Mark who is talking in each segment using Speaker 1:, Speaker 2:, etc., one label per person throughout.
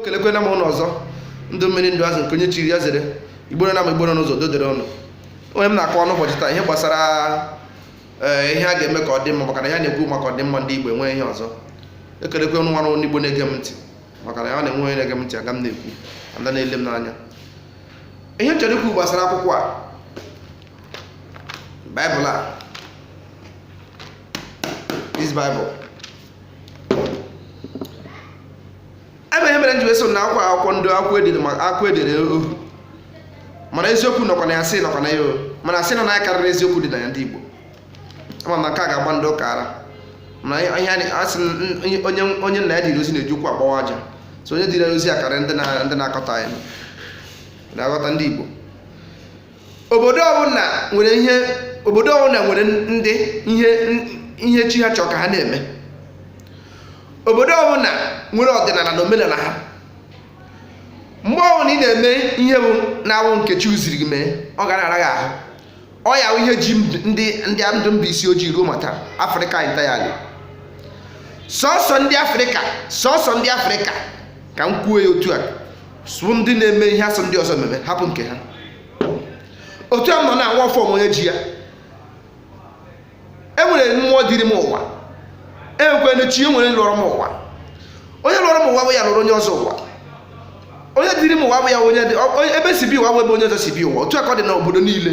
Speaker 1: kelekwela m unu ọzọ ndụ mmiri ndụ azụ nke onye chiri ya zere igbo nọ n'ama igbo nọ n'ụzọ udo dịrị unu ihe m na-akọ n'ụbọchị taa ihe gbasara eh, ihe a ga-eme ka ọ dị mma maka na ya na-ekwu maka ọdịmma ndị igbo enweghị ihe ọzọ ekelekwa m unu nwa onye igbo na-ege m ntị maka na ya na-enwe onye na-ege m ntị aga m na-ekwu ada na-ele m n'anya ihe chọrọ ikwu gbasara akwụkwọ a baịbụl a this baịbụl ebe ihe mere m ji wee sị na akwa akwụkwọ ndị akwụkwọ e dere ma akwụkwọ e dere ohu mana eziokwu nọkwa na ya asị nọkwa na ya o mana asị nọ na ya karịrị eziokwu dị na ya ndị Igbo ama m na nke a ga-agba ndị ụka ara mana ihe a na-asị m, onye onye- onye nna ya dịrị ozi na-eji ụkwụ agbawa aja so onye dịrị ozi a karịrị ndị na- ndị na-akọta anyị na-aghọta ndị Igbo obodo ọbụla nwere ihe obodo ọbụla nwere ndị ihe ihe chi ha chọrọ ka ha na-eme obodo ọbụla nwere ọdịnala na omenala ha mgbe ọbụla ị na-eme ihe na-awụghị nke chiwu ziri gị mee ọ ga na-ara gị ahụ ọ ya wụ ihe ji ndị ndị ndụ mba isi ojii ruo mata afrịka entirely sọsọ ndị afrịka sọsọ ndị afrịka ka m kwuo ya otu a wụ ndị na-eme ihe a sị ndị ọzọ mee mee hapụ nke ha otu a m nọ na-anwa ọfọ m nwe onye ji ya e nwere mmụọ dịrị m ụwa nwekwanụ chi e nwere lọrọ m ụwa onye lọrọ m ụwa abụghị ya lọrọ onye ọzọ ụwa onye dịrị m ụwa abụghị ya onye dị ọ- onye- ebe m si bịa ụwa abụghị ebe onye ọzọ si bịa ụwa otu a ka ọ dị n'obodo niile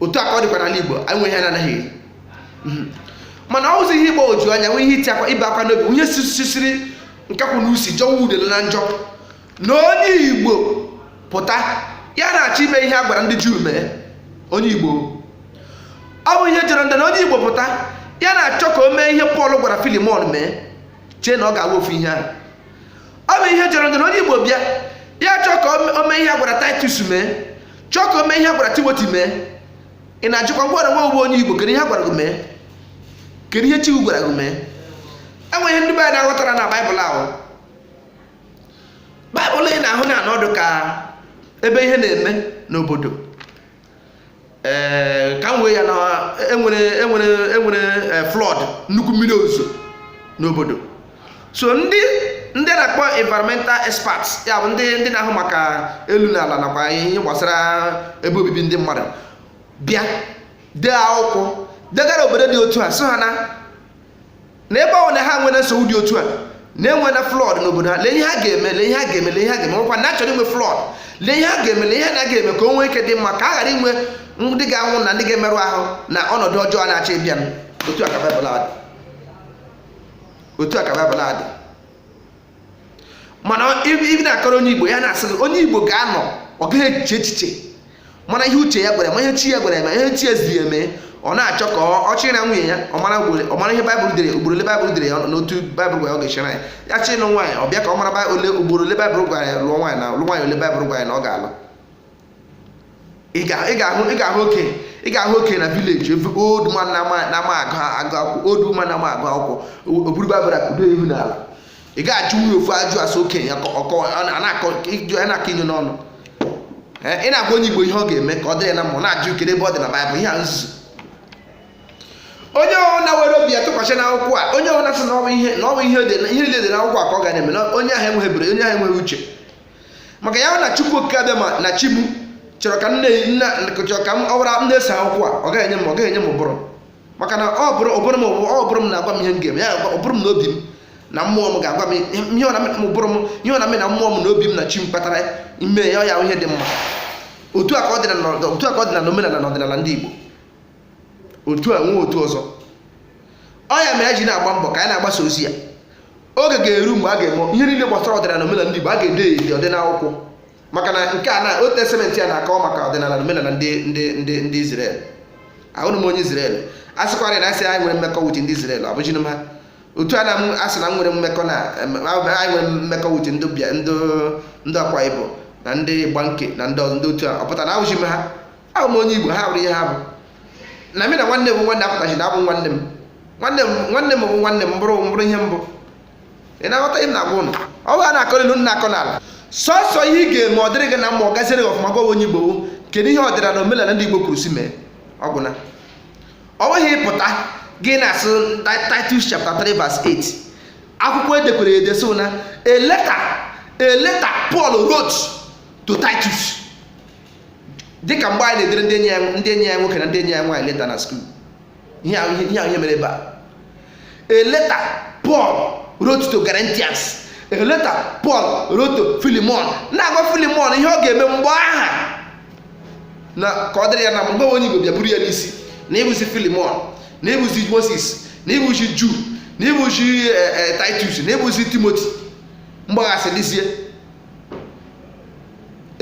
Speaker 1: otu a ka ọ dịkwa n'ala igbo anyị nwe ihe anyị na-anaghị eri Mhm. mana ọ bụzi ihe mgbagwoju anya nwee ihe iti akwa ibe akwa n'obi ihe sisiri nkakwụ na usi jọwa udele na njọ na onye igbo pụta ya na-achọ ime ihe a gwara ndị juu mee onye igbo ọ bụ ihe jọrọ njọ na onye igbo pụta ya na-achọ ka o mee ihe pọl gwara filimon mee chee na ọ ga-awụ ofu ihe ahụ ọ bụ ihe jọrọ njọ na onye igbo bịa ya chọọ ka o mee ihe a gwara titus mee chọọ ka o mee ihe a gwara timoti mee ị na-ajụkwa gị wụrụ nwa igbo onye igbo kedu ihe a gwara gị mee kedu ihe chiwu gwara gị mee enweghị ihe ndị be anyị na-aghọtara na baịbụl ahụ baịbụl ị na-ahụ na-anụ ọ dị ka ebe ihe na-eme n'obodo ee ka m wee ya na enwere enwere enwere eh, flood nnukwu mmiri ozuzo n'obodo so ndị ndị na-akpọ environmental experts ya bụ ndị ndị na-ahụ maka elu na ala nakwa ihe gbasara ebe obibi ndị mmadụ bịa dee akwụkwọ degara obodo dị otu a sị ha na na ebe ọ na ha nwere nsogbu dị otu a na-enwe na flood n'obodo ha lee ihe ha ga-eme lee ihe ha ga-eme lee ihe ha ga-eme ọkwa na achọrọ inwe flood lee ihe ha ga-eme lee ihe ha ga-eme ka o nwee ike dị mma ka a ghara inwe ndị ga-anwụ na ndị ga-emerụ ahụ na ọnọdụ ọjọọ na-achọ ịbịa otu a ka Baịbụl otu a ka baịbụl a dị mana ị bịa na-akọrọ onye igbo ya na-asị gị onye igbo ga-anọ ọ gaghị eche echiche mara ihe uche ya gwara ma ihe chi ya gwara ma ihe chi ya ziri ya mee ọ na-achọ ka ọ chịrị na nwunye ya ọ mara ihe baịbụl dere ugboro ole baịbụl dere ya n'otu baịbụl gwara ọ ga-echera ya ya chịrị na nwaanyị ọ bịa ka ọ mara ole ugboro ole baịbụl gwara ya lụọ nwaanyị na lụ nwaanyị ole baịbụl gwara ya na ọ ga-alụ ị ga-ahụ ị ga-ahụ oke ị ga-ahụ oke na vileji ebe old man na-ama agụ agụ akwụkwọ old woman na-ama agụ akwụkwọ o buru baịbụl kudo ihu n'ala ị ga-ajụ ya ofu ajụ asụ okenye ya ọkọ a na-akọ ịjụ ya na-akọ inyo n'ọnụ Ee, ị na-agwa onye igbo ihe ọ ga-eme ka ọ dịrị ya na mma ọ na-ajụ kedu ebe ọ dị na baịbụl ihe a nzuzu onye ọwụna were obi ya tụkwasị n'akwụkwọ a onye ọwụna sị na ọ wụ ihe na ọ wụ ihe dị na ihe niile dị n'akwụkwọ a ka ọ ga na-eme na onye ahụ enweghị ebere onye ahụ enweghị uche maka ya wụ na chukwu okike abịama na chi m chọrọ ka nne nna chọrọ ka m ọ gwara na-eso akwụkwọ a ọ gaghị enye m ọ gaghị enye m ụbụrụ maka na ọ bụrụ ụbụrụ m ụbụrụ m na-agwa m ihe m ga-eme ya ụbụrụ m na obi m na mmụọ m ga-agwa m ihe mụ na ụbụrụ m ihe mụ na mmụọ m na obi m na chi m kpatara mee ya ọ ya wụ ihe dị mma otu a ka ọ dị na otu a ka ọ dị na omenala na ọdịnala ndị Igbo otu a enwe otu ọzọ ọ ya mere e ji na-agba mbọ ka anyị na-agbasa ozi a oge ga-eru mgbe a ga-eme ihe niile gbasara ọdịnala omenala ndị Igbo a ga-ede ede ọ dị n'akwụkwọ maka na nke a na old testament a na-akọwa maka ọdịnala omenala ndị ndị ndị ndị Izrel awụghị m onye Izrel a sịkwara na a sị anyị nwere mmekọ with ndị Izrel abụzighị m ha otu a na m asị na m nwere mmekọ na anyị nwere mmekọ with ndị bịa ndị ndị Akwa Ibom na ndị Igbanke na ndị ọzọ ndị otu a ọ pụtara na awụzi m ha abụ m onye Igbo ha bụrụ ihe ha bụ na mụ na nwanne m nwanne apụtaghị na abụ nwanne m nwanne m nwanne m bụ nwanne m bụrụ bụrụ ihe mbụ ị na-aghọta ihe m na-agwa unu ọ bụrụ na akọ n'ilu nna akọ n'ala sọsọ ihe ị ga-eme ọ dịrị gị na mma ọ gaziere gị ọfụma gwawa onye Igbo kedu ihe ọdịnala na omenala ndị Igbo kwuru si mee ọ gwụna ọ nweghị ị pụta gị na-asị Titus chapter 3 verse 8 akwụkwọ e dekwara ede so na a letter a letter Paul wrote to Titus dịka mgbe anyị na-edere ndị enyi ya ndị enyi ya nwoke na ndị enyi ya nwaanyị leta na skuul ihe ahụ ihe ihe ahụ ihe mere ebe a a letter Paul wrote to Corinthians a letter Paul wrote to Philemon na-agwa Philemon ihe ọ ga-eme mgbe aha na ka ọ dịrị ya na mma gị bụ onye Igbo bịa buru ya n'isi na ị bụzi Philemon na ị bụzi Moses na ị bụzi Ju na ị bụzi eh, eh, Titus na ị bụzi Timothy mgbaghasị dịzie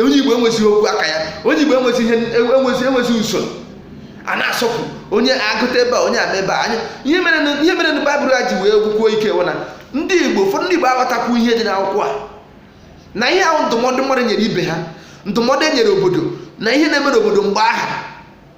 Speaker 1: onye igbo enwezighị okwu aka ya onye igbo enwezi ihe enwezi enwezi usoro a na-asọpụ onye agbata ebe a onye agba ebe a anyị ihe mere na- ihe mere na baịbụl a ji wee gwukwuo ike wụ na ndị igbo ụfọdụ ndị igbo aghọtakwu ihe dị n'akwụkwọ a na ihe a wụ ndụmọdụ mmadụ nyere ibe ha ndụmọdụ e nyere obodo na ihe na-eme n'obodo mgbe aha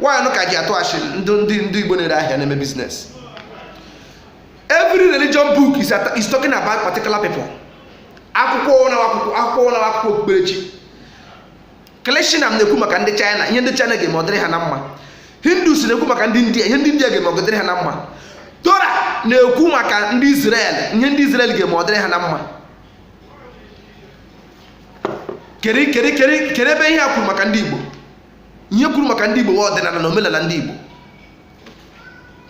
Speaker 1: nwaanyị ka ji atụ achị ndị ndị ndị Igbo na-ere ahịa na-eme business every religion book is, at, is talking about particular people akwụkwọ na akwụkwọ akwụkwọ na akwụkwọ okpukperechi nke ndị China na-ekwu maka ndị China ihe ndị China ga-eme ọ dịrị ha na mma hindus na-ekwu maka ndị india ihe ndị india ga-eme ọ dịrị ha na mma Torah na-ekwu maka ndị israel ihe ndị israel ga-eme ọ dịrị ha na mma kedu ebe ihe e kwuru maka ndị igbo ihe kwuru maka ndị Igbo ọdịnala na omenala ndị Igbo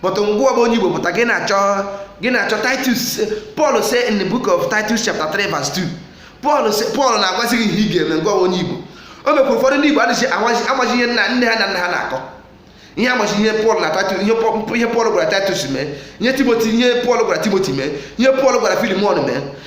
Speaker 1: but gịnwa bụ onye Igbo pụta gị na-achọ gị na-achọ Titus Paul say in the book of Titus chapter 3 verse 2 Paul Paul na-agwazi gị ihe ị ga-eme gịnwa bụ onye Igbo o mekwa ụfọdụ ndị Igbo adịghị amazi ihe nna nne ha na nna ha na-akọ ihe ha mazi ihe Paul na Titus ihe Paul gwara Titus mee ihe Timothy ihe Paul gwara Timothy mee ihe Paul gwara Philemon mee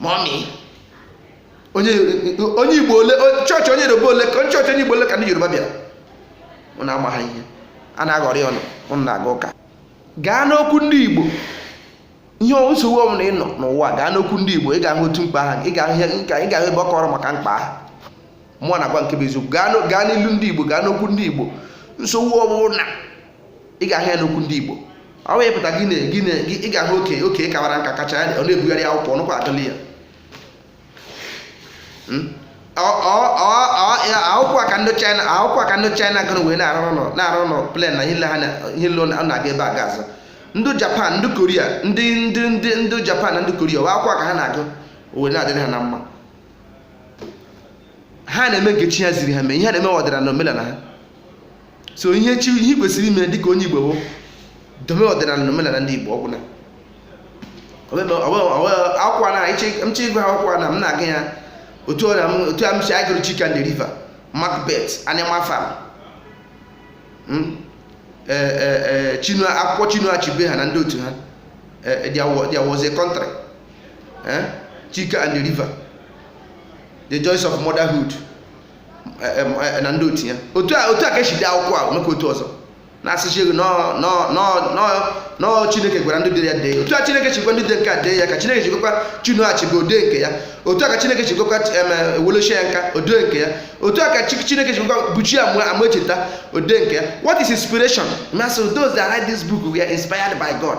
Speaker 1: mọmi onye onye igbo ole o- chọọchị onye yoruba ole ka chọọchị onye igbo ole ka ndị yoruba bịara ụnụ amaha ihe a na-aghọrị ụnụ ụnụ na-aga ụka gaa n'okwu ndị igbo ihe ọ- nsogbu ọbụla ị nọ n'ụwa gaa n'okwu ndị igbo ị ga-ahụ otu mkpa ahụ ị ga-ahụ ihe nka ị ga-ahụ ebe ọ kọrọ maka mkpa ahụ mụ na-agwa nke bụ eziokwu gaa n'o- gaa n'ilu ndị igbo gaa n'okwu ndị igbo nsogbu ọbụla ị ga-ahụ ya n'okwu ndị Igbo ọ wee pụta gị na gị na ị ga-ahụ oke oke kawara nka kacha ya ọ na-ebugharị akwụkwọ ọnụkwa adịla ya hmm? akwụkwọ a ka ndị China akwụkwọ a ka ndị China gụrụ wee na-arụ ụlọ na-arụ aeroplane na ihe ha ihe niile na-aga ebe a ga-azụ ndị Japan ndị Korea ndị ndị ndị ndị Japan na ndị Korea wa akwụkwọ a ka ha na-agụ wee na-adịrị ha na mma ha na-eme nke chi ha ziri ha mee ihe ha na-eme ọdịnala na omenala ha so ihe chi ihe i kwesịrị ime dịka onye igbo bụ dobe ọdịnala na omenala ndị igbo ọ gwụna akwụkwọ na m chọọ ịgụ akwụkwọ na m na-agụ ya otu ọ na m otu a m si agụrụ Chike and the river macbeth animal farm Hmm? Eh, eh, eh, Chinua akwụkwọ Chinua Achebe ha na ndị otu ha Eh, eh, there wa- there was a country Eh? Chike and the river the joys of motherhood na ndị otu ya otu a otu a ka e si dee akwụkwọ a o mekwa otu ọzọ na-asị chi ego nọọ chineke gwara ndị dere ya dee otu a chineke si gwa ndị dere nke a dee ya ka chineke si gwakwa Chinua Achebe o dee nke ya otu a ka chineke si gwakwa Wole Soyinka o dee nke ya otu a ka chineke si gwakwa Buchi Emecheta o dee nke ya what is inspiration ma sị those that write this book were inspired by god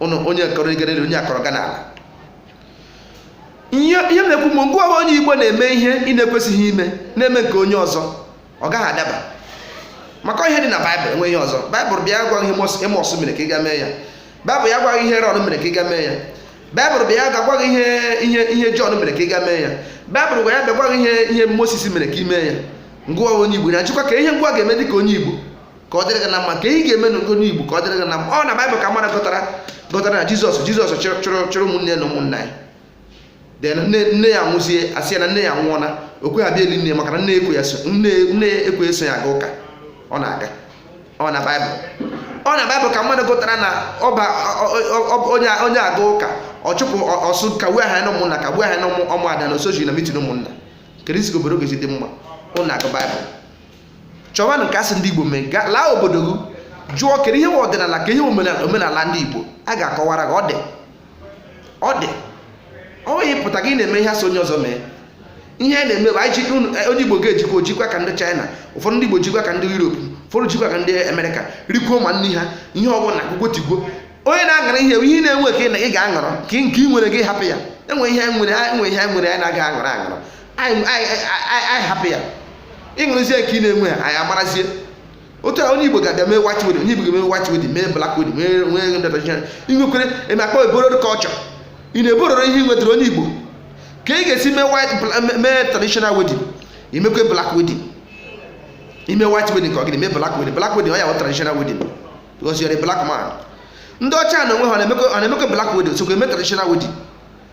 Speaker 1: ụnụ onye kọrọ igere elu onye akọrọ gana ala ihe ihe m na-ekwu mgbe gị nwa wụ onye igbo na-eme ihe ị na-ekwesịghị ime na-eme nke onye ọzọ ọ gaghị adaba maka ihe dị na baịbụl enwe ihe ọzọ baịbụl bịa gwa gị ihe amọs mere ka ị ga mee ya baịbụl ya gwa gị ihe erọn mere ka ị ga mee ya baịbụl bịa ga gwa gị ihe ihe ihe jọn mere ka ị ga mee ya baịbụl gwa ya bịa gwa gị ihe ihe moses mere ka ị mee ya gị nwa onye igbo na-ajụkwa ka ihe gị nwa ga-eme dị ka onye igbo ka ọ dịrị gị na mma ka ị ga-eme n'ugo n'igbo ka ọ dịrị gị na mma ọ na baịbụl ka mmadụ gụtara gụtara na jizọs jizọs chụrụ chụrụ chụrụ ụmụnne na ụmụnna ya then nne nne ya nwụzie asị ya na nne ya nwụọla o kweghị abịa eli nne ya maka na nne ekwe ya so nne nne ya ekwe eso ya aga ụka ọ na-aga ọ na baịbụl ọ na baịbụl ka mmadụ gụtara na ọba ọ- ọ- ọ- onye onye aga ụka ọ chụpụ ọ- ọ sị kagbuo aha ya na ụmụnna kagbuo aha ya na ụmụ- ụmụada na o sozi na mitin ụmụnna keduzi ka obodo ga-esi dị mma ụnụ na-agụ baịbụl chọwa nke asị ndị Igbo mee laa obodo gị jụọ kedu ihe ọdịnala ka ihe omenala ndị Igbo a ga-akọwara gị ọ dị ọ dị ọ nweghị pụta gị na-eme ihe asị onye ọzọ mee ihe a na-eme bụ anyị jikwa eh, onye igbo ga-ejikwa o jikwa ka ndị chaịna ụfọdụ ndị igbo jikwa ka ndị yuropu ụfọdụ jikwa ka ndị amerịka rikwuo ma nri ha ihe ọbụla gwogwotigwo onye na-aṅara ihe ị na-enwe ka ị ga-aṅara ka nke ị nwere gị hapụ ya enwe ihe nwere enwe ihe nwere anyị na-agaghị aṅara aṅara anyị hapụ ya ịṅụrụzie nke ị na-enwe ya anyị amarazie otu a onye igbo ga-abịa mee white wedding onye igbo ga-eme white wedding mee black wedding mee nwee ego ndọtọchịchị inwekwere eme akpa ebororo culture ị na-ebororo ihe ị nwetara onye igbo ka ị ga-esi mee white bla- me- mee traditional wedding i mekwe black wedding i mee white wedding ka ọ gịnị mee black wedding black wedding ọ ya bụ traditional wedding because you're a black man ndị ọcha na onwe ha ọ na-emekwe ọ na-emekwe black wedding sokwa eme traditional wedding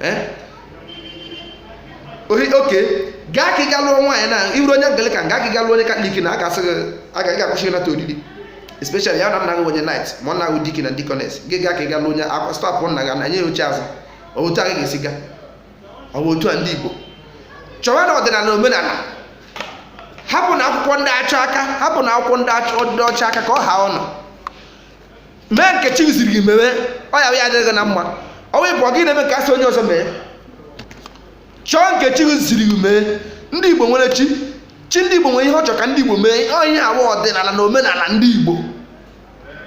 Speaker 1: eh? okay gaa ka ị ga lụọ nwaanyị na ị wụ onye Anglican gaa ka ị ga lụọ onye Katọlik na aka asị gị aga ị ga-akwụsị ịnata oriri especially ya na nna gị onye knight ma ọ na-awụ deacon na deaconess gị gaa ka ị ga lụọ onye a ga stop nna gị na nye ya oche azụ ọ bụ otu a ga-esi gaa ọ bụ otu a ndị Igbo chọwanụ ọdịnala omenala hapụnụ akwụkwọ ndị ọcha aka hapụnụ akwụkwọ ndị ọcha aka ka ọ ha ọnụ mee nke chi ziri gị mewe ọ ya ya-adị gị na mma ọnwa ịbụ gị na-eme nke asị onye ọzọ mee chọọ nke chi ziri gị mee ndị igbo nwere chi chi ndị igbo nwere ihe ọ chọrọ ka ndị igbo mee ọ ihe a wụ ọdịnala na omenala ndị igbo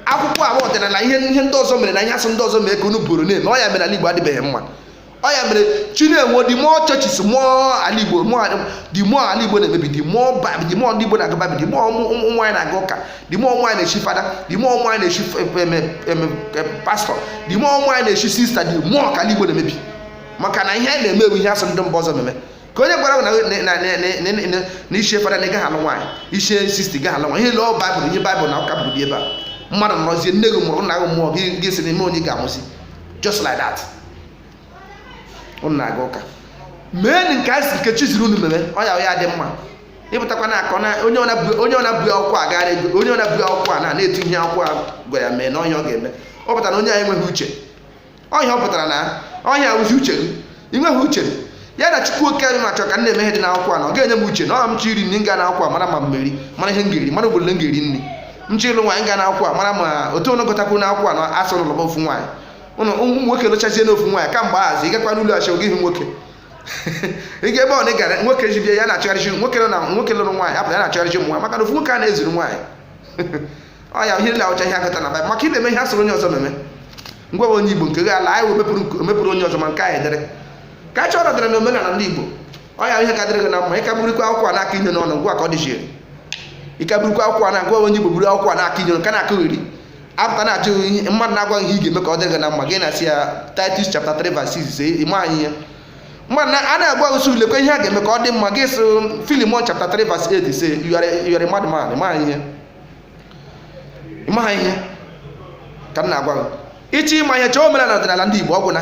Speaker 1: akwụkwọ a wụ ọdịnala ihe ihe ndị ọzọ mere na ihe asị ndị ọzọ mee ka unu buru na-eme ọ ya mere ala igbo adịbeghị mma ọ ya mere chi na-enwe the more churches more ala igbo more the more ala igbo na-emebi the more bab the more ndị igbo na-aga babi the more ụmụ nwaanyị na-aga ụka the more ụmụ anyị na-echi fada the more ụmụ anyị na-echi pastọ the more ụmụ anyị na-echi sista the more ka ala igbo na-emebi maka na ihe a na-eme wụ ihe a sị ndị mba ọzọ meme ka onye gwara na i chie fada na ị gaghị alụ nwaanyị i chie sista ị gaghị alụ nwaanyị ihe lụọ baịbụl ihe baịbụl na ụka buru bịa ebe a mmadụ nọrọzie nne gị mụrụ nna gị mụọ gị si n'ime onye ga-amụzi just like that unu na-aga ụka mee nke a si nke chi ziri unu mere ọ ya ya dị mma ịpụtakwa na akọ onye ọbụla bu akwụkwọ a gara ego onye ọbụla bu akwụkwọ a na na-etu ihe akwụkwọ a gwa ya mee na ọ ihe ọ ga-eme ọ pụtara na onye a enweghị uche ọ ihe ọ pụtara na ọ ihe a wụzi uche gị ị nweghị uche ya na chukwu oke anyị na-achọ ka m na-eme ihe dị n'akwụkwọ a na ọ ga-enye m uche na ọ m chọ iri nri m ga na akwụkwọ a mara ma m meri mara ihe m ga-eri mara obodo m ga-eri nri m chọ ịlụ nwaanyị ga na akwụkwọ a mara ma otu unu gụtakwa na akwụkwọ a na a sị unu lụọ ofu nwaanyị unu ụmụ nwoke lụchazie ofu nwaanyị kamgbe azụ ị gakwa n'ụlọ chọọchị ị hụ nwoke ị ga ebe ọbụla ị gara nwoke ji bịa ya na-achọgharịchi nwoke nọ na nwoke lụrụ nwaanyị apụta ya na-achọgharịchi ụmụ nwaanyị maka na ofu nwoke a na-ezuru nwaanyị ọ ya ihe ndị a wụcha ihe a gụta na baịbụl maka ị na-eme ihe a sịrị onye ọzọ meme gị nwa bụ onye igbo nke gị ala anyị wee mepụrụ nke- mepụrụ onye ọzọ ma nke anyị dere ka a chọrọ dere na omenala ndị igbo ọ ya ihe ka dịrị gị na mma ịka burukwa akwụkwọ a na-aka inye n'ọnụ ngwa ka ọ dịchiri ịka burukwa akwụkwọ a na-agwa onye igbo buru akwụkwọ a na-aka inye n'ọnụ ka na-akọgheri a pụta na-ajụ ihe mmadụ na-agwa gị ihe ị ga-eme ka ọ dịrị gị na mma gị na-asị ya Titus chapter 3 verse 6 ị maghị ihe mmadụ na- a na-agwa usoro lekwa ihe a ga-eme ka ọ dị mma gị sị Filimon chapter 3 verse 8 say you are a- you are a madman ị maghị ihe ị maghị ihe ka m na-agwa gị ị chọọ ịma ihe chọọ omenala ọdịnala ndị Igbo ọ gwụla